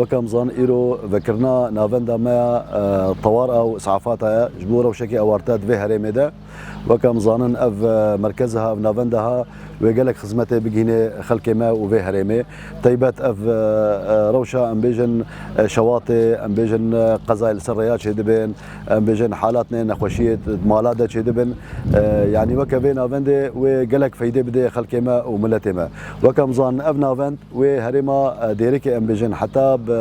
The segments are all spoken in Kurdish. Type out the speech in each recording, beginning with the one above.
Weke em zan îro vekirina navenda me ya tewar a û îsafata ye ji bo rewşekê ewarte di vê herêmê de. Weke em zanin ev merkeze ha, ev navenda ha wê gelek xizmetê bigihînê xelkê me û vê herêmê. Teybet ev rewşa em bêjin şewatê, em bêjin qezayê li ser rêya çêdibên, em bêjin halatnê nexweşiyê di mala de çêdibin. Yanî weke vê navendê wê gelek feydê bidê xelkê me û miletê me. Weke em zanin ev navend Wê herêma Dêrikê em bijin heta bi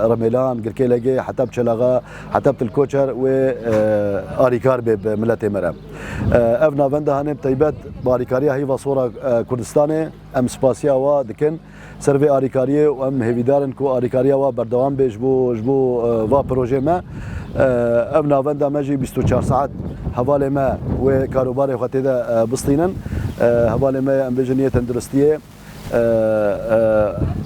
Rimelan, Girkêlegê heta bi Çelaxa heta bi Tilkoçer wê alîkar bê bi miletê me re. Ev navenda hene bi taybet bi alîkariya Heyva Sora Kurdistanê em spasiya wa dikin ser vê alîkariyê û em hêvîdar in ku alîkariya wa berdewam bê ji bo ji bo va pirojê me. Ev navenda me jî bîst û çar saet hevalê me wê karobarê xwe tê de bistînin. Hevalê me ye em bijin yê tenduristiyê.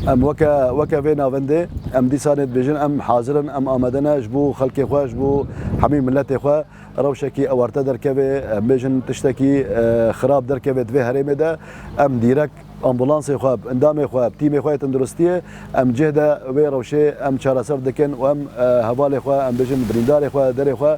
Em weke weke vê navendê em dîsanê dibêjin em hazir in, em amade ne ji bo xelkê xwe, ji bo hemî miletê xwe rewşekî ewarte derkevê, em bêjin tiştekî xirab derkevê di vê herêmê de, em dîrek ambulansê xwe, endamê xwe, tîmê xwe yê tenduristiyê em cih de wê rewşê em çareser dikin û em hevalê xwe, em bêjin birîndarê xwe, derê xwe.